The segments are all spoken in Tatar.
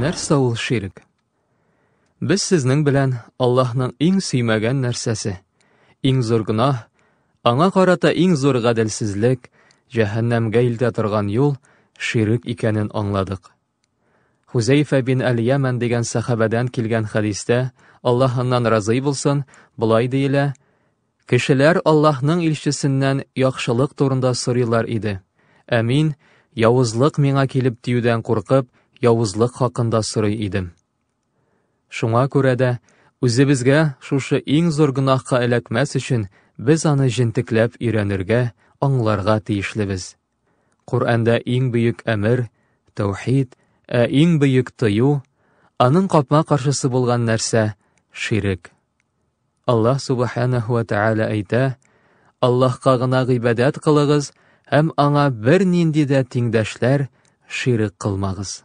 Нәрсә ул ширк? Без сезнең белән Аллаһның иң сөймәгән нәрсәсе, иң зур гөнаһ, аңа карата иң зур гаделсезлек, җәһәннәмгә илтә торган юл ширк икәнен аңладык. Хузәйфә бин Әл-Ямән дигән сәхабәдән килгән хәдистә, Аллаһ аннан разый булсын, болай диелә, Кешеләр Аллаһның илчесеннән яхшылык турында сорыйлар иде, ә мин, явызлык миңа килеп тиюдән куркып, явызлык хакында сорый идем. Шуңа күрә дә, үзебезгә шушы иң зур гөнаһка эләкмәс өчен, без аны җентекләп өйрәнергә, аңларга тиешлебез, Коръәндә иң бөек әмер, тәүхид, ә иң бөек тыю, аның капма каршысы булган нәрсә, ширек. Аллаһ Субханаһу ва Тәгалә әйтә, Аллаһка гына гыйбадәт кылыгыз һәм аңа бер нинди дә тиңдәшләр, ширек кылмагыз.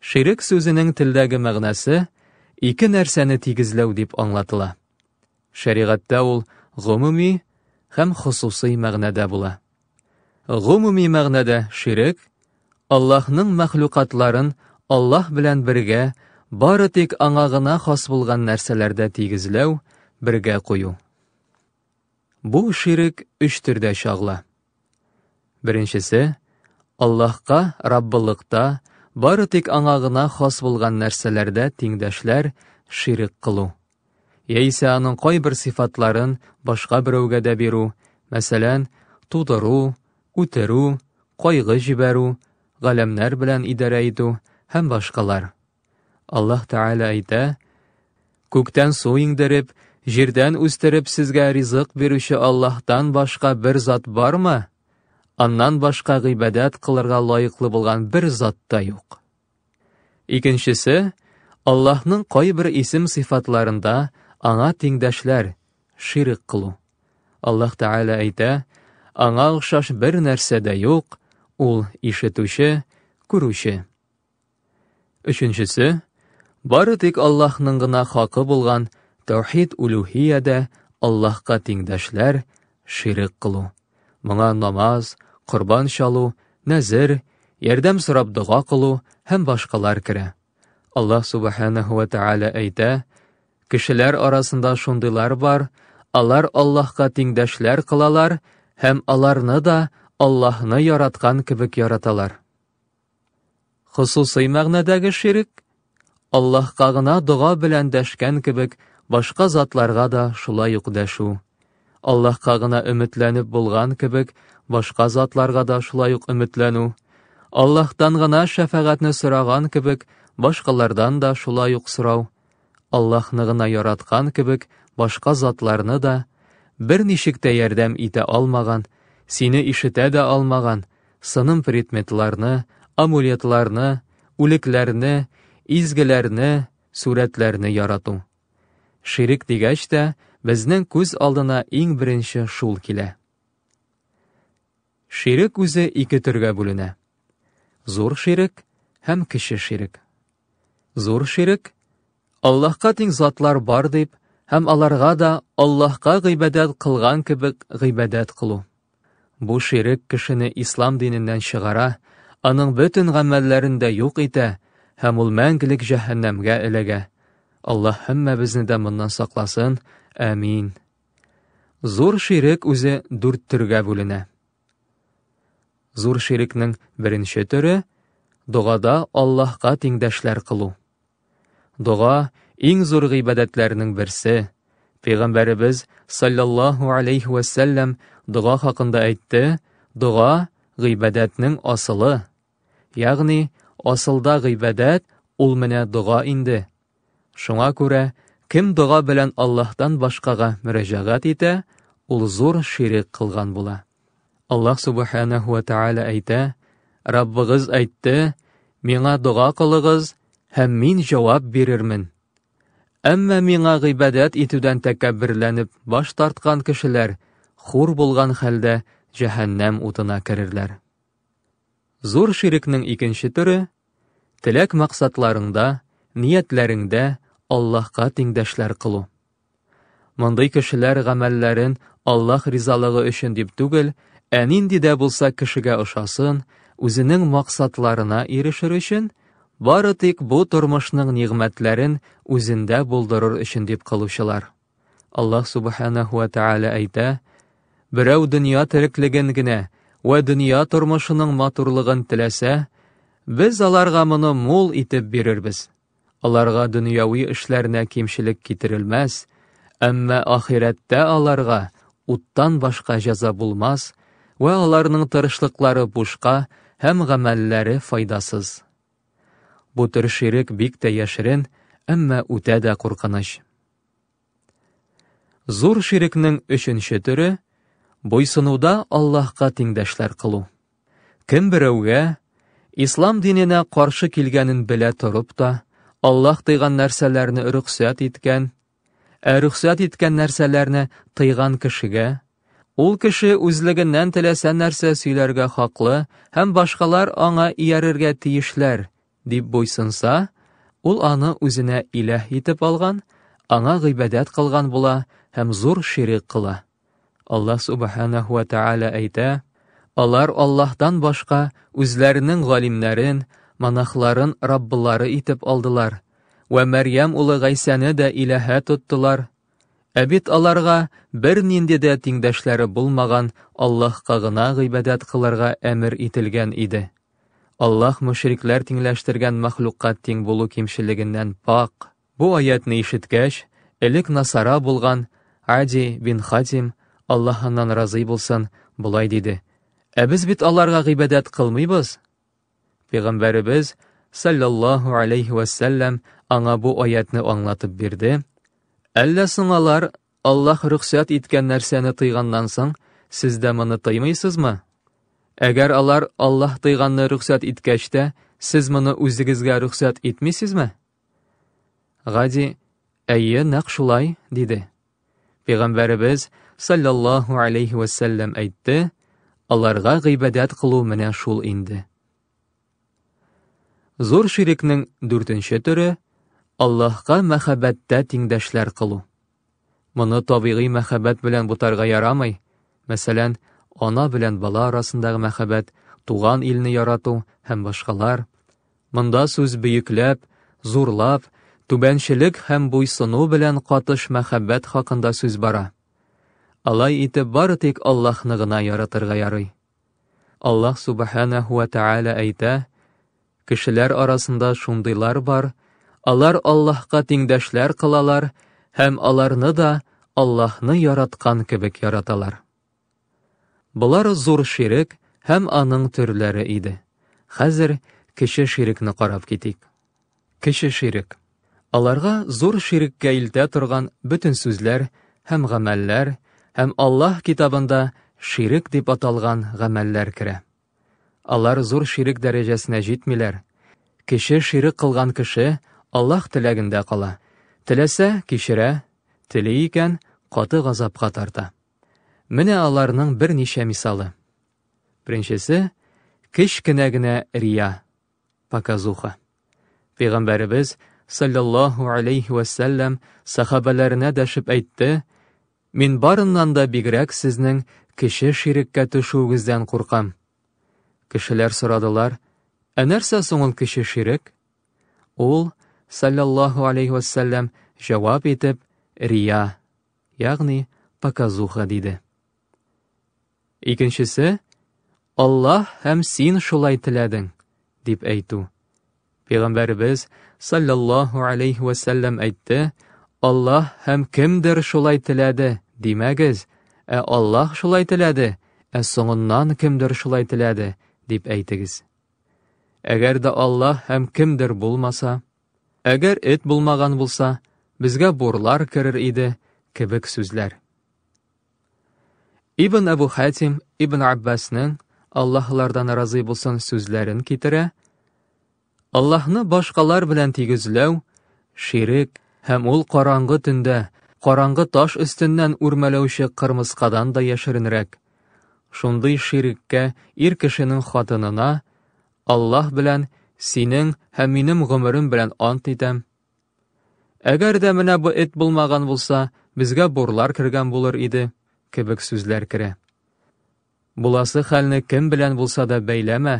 Ширек сүзенең телдәге мәгънәсе ике нәрсәне тигезләү дип аңлатыла. Шәригатьтә ул гомуми һәм хосусый мәгънәдә була. Гомуми мәгънәдә ширек Аллаһның мәхлукатларын Аллаһ белән бергә бары тик аңа гына хас булган нәрсәләрдә тигезләү, бергә кую. Бу ширек өч төрдә чагыла. Беренчесе, Аллаһка Раббылыкта бары тик аңа гына хас булган нәрсәләрдә тиңдәшләр ширек кылу. Яисә аның кайбер сыйфатларын башка берәүгә дә бирү, мәсәлән, тудыру, үтерү, кайгы җибәрү, галәмнәр белән идарә итү һәм башкалар. Аллаһ Тәгалә әйтә, Күктән су иңдереп, җирдән үстереп сезгә ризык бирүче Аллаһтан башка бер зат бармы? Аннан башка гыйбадәт кылырга лаеклы булган бер зат та юк. Икенчесе, Аллаһның кайбер исем-сыйфатларында аңа тиңдәшләр, ширк кылу. Аллаһ Тәгалә әйтә, аңа охшаш бер нәрсә дә юк, ул ишетүче, күрүче. Өченчесе, бары тик Аллаһның гына хакы булган тәүхид улюһиядә Аллаһка тиңдәшләр, ширек кылу. Моңа намаз, корбан чалу, нәзер, ярдәм сорап дога кылу һәм башкалар керә. Аллаһ субханаһу ва тааля әйтә, Кешеләр арасында шундыйлар бар, алар Аллаһка тиңдәшләр кылалар һәм аларны да Аллаһны яраткан кебек яраталар. Хосусый мәгънәдәге ширек, Аллаһка гына дога белән дәшкән кебек, башка затларга да шулай ук дәшү. Аллаһка гына өметләнеп булган кебек, башка затларга да шулай ук өметләнү. Аллаһтан гына шәфәгатьне сораган кебек, башкалардан да шулай ук сорау. Аллаһны гына яраткан кебек, башка затларны да, берничек тә ярдәм итә алмаган, сине ишетә дә алмаган, сыным предметларны, амулетларны, үлекләрне, изгеләрне, сурәтләрне ярату. Ширек дигәч тә, безнең күз алдына иң беренче шул килә. Ширек үзе ике төргә бүленә. Зур ширек һәм кече ширек. Зур ширек, Аллаһка тиң затлар бар дип һәм аларга да Аллаһка гыйбадәт кылган кебек гыйбадәт кылу. Бу ширек кешене ислам диненнән чыгара, аның бөтен гамәлләрен дә юк итә һәм ул мәңгелек җәһәннәмгә эләгә. Аллаһ һәммәбезне дә моннан сакласын. Әмин. Зур ширек үзе дүрт төргә бүленә. Зур ширекнең беренче төре догада Аллаһка тиңдәшләр кылу. Дога иң зур гыйбадәтләрнең берсе. Пәйгамбәребез саллаллаһу алейхи ва саллям дога хакында әйтте: "Дога гыйбадәтнең асылы, Ягъни, асылда гыйбадәт ул менә дога инде. Шуңа күрә, кем дога белән Аллаһтан башкага мөрәҗәгать итә, ул зур ширек кылган була. Аллаһ Субханәһу ва Тааля әйтә, Раббыгыз әйтте, Миңа дога кылыгыз, һәм мин җавап бирермен. Әмма миңа гыйбадәт итүдән тәкәбберләнеп баш тарткан кешеләр хур булган хәлдә җәһәннәм утына керерләр. Зур ширекнең икенче төре, теләк-максатларыңда, ниятләреңдә Аллаһка тиңдәшләр кылу. Мондый кешеләр гамәлләрен Аллаһ ризалыгы өчен дип түгел, ә нинди дә булса кешегә ошасын, үзенең максатларына ирешер өчен, бары тик бу тормышның нигъмәтләрен үзендә булдырыр өчен дип кылучылар. Аллаһ Субханаху ва Тааля әйтә, Берәү дөнья тереклеген генә вә дөнья тормышының матурлыгын теләсә, без аларга моны мул итеп бирербез. Аларга дөньяви эшләренә кимчелек китерелмәс, әмма ахирәттә аларга уттан башка җәза булмас вә аларның тырышлыклары бушка һәм гамәлләре файдасыз. Бу төр ширек бик тә яшерен, әмма үтә дә куркыныч. Зур ширекнең өченче төре буйсынуда Аллаһка тиңдәшләр кылу. Кем берәүгә ислам диненә каршы килгәнен белә торып та, Аллаһ тыйган нәрсәләрне рөхсәт иткән, ә рөхсәт иткән нәрсәләрне тыйган кешегә, ул кеше үзлегеннән теләсә нәрсә сөйләргә хаклы һәм башкалар аңа иярергә тиешләр, дип буйсынса, ул аны үзенә иләһ итеп алган, аңа гыйбадәт кылган була һәм зур ширек кыла. Аллаһ субханаһу ва тааля әйтә, алар Аллаһтан башка үзләренең галимнәрен, монахларын раббылары итеп алдылар вә Мәрьям улы Гайсәне дә иләһә тоттылар. Ә бит аларга бернинди дә тиңдәшләре булмаган Аллаһка гына гыйбадәт кылырга әмер ителгән иде. Аллаһ мөшрикләр тиңләштергән мәхлукка тиң булу кимчелегеннән пакь. Бу аятьне ишеткәч, элек насара булган Ади бин Хатим, Аллаһ аннан разый булсын, болай диде, Ә без бит аларга гыйбадәт кылмыйбыз. Пәйгамбәребез, саллаллаһу алейһи вәссәлләм, аңа бу аятьне аңлатып бирде, Әллә соң алар Аллаһ рөхсәт иткән нәрсәне тыйганнан соң, сез дә моны тыймыйсызмы? Әгәр алар Аллаһ тыйганны рөхсәт иткәч тә, сез моны үзегезгә рөхсәт итмисезме? Гади, әйе, нәкъ шулай, диде. Пәйгамбәребез саллаллаһу алейхи вәсәлләм әйтте, аларга гыйбадәт кылу менә шул инде. Зур ширекнең дүртенче төре Аллаһка мәхәббәттә тиңдәшләр кылу. Моны табигый мәхәббәт белән бутарга ярамый. Мәсәлән, ана белән бала арасындагы мәхәббәт, туган илне ярату һәм башкалар. Монда сүз бөекләп, зурлап, түбәнчелек һәм буйсыну белән катыш мәхәббәт хакында сүз бара. Алай итеп бары тик Аллаһны гына яратырга ярый. Аллаһ Субханәһу вә Тәгалә әйтә, Кешеләр арасында шундыйлар бар, алар Аллаһка тиңдәшләр кылалар һәм аларны да Аллаһны яраткан кебек яраталар. Болар зур ширек һәм аның төрләре иде. Хәзер кече ширекне карап китик. Кече ширек. Аларга зур ширеккә илтә торган бөтен сүзләр һәм гамәлләр һәм Аллаһ Китабында ширек дип аталган гамәлләр керә. Алар зур ширек дәрәҗәсенә җитмиләр. Кече ширек кылган кеше Аллаһ теләгендә кала. Теләсә, кичерә, тели икән, каты газапка тарта. Менә аларның берничә мисалы. Беренчесе, кечкенә генә рия. Показуха. Пәйгамбәребез саллаллаһу алейхи ва сәлләм сахабәләренә дәшеп әйтте: "Мин барыннан да бигрәк сезнең кеше ширеккә төшүегездән куркам". Кешеләр сорадылар: "Ә нәрсә соң ул кеше ширек?" Ул саллаллаһу алейхи ва сәлләм җавап итеп, "Рия", ягъни показуха диде. Икенчесе, Аллаһ һәм син шулай теләдең, дип әйтү. Пәйгамбәребез саллаллаһу алейхи вә сәлләм әйтте, Аллаһ һәм кемдер шулай теләде, димәгез, ә Аллаһ шулай теләде, ә соңыннан кемдер шулай теләде, дип әйтегез. Әгәр дә Аллаһ һәм кемдер булмаса, әгәр эт булмаган булса, безгә бурлар керер иде, кебек сүзләр. Ибн Абу Хатим Ибн Аббасның Аллаһлардан разый булсын сүзләрен китерә. Аллаһны башкалар белән тигезләү, ширек һәм ул караңгы төндә, караңгы таш өстеннән үрмәләүче кырмыскадан да яшеренрәк. Шундый ширеккә ир кешенең хатынына Аллаһ белән синең һәм минем гомерем белән ант итәм, Әгәр дә менә бу эт булмаган булса, безгә бурлар кергән булыр иде, кебек сүзләр керә. Буласы хәлне кем белән булса да бәйләмә,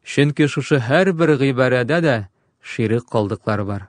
чөнки шушы һәрбер гыйбарәдә дә ширек калдыклар бар.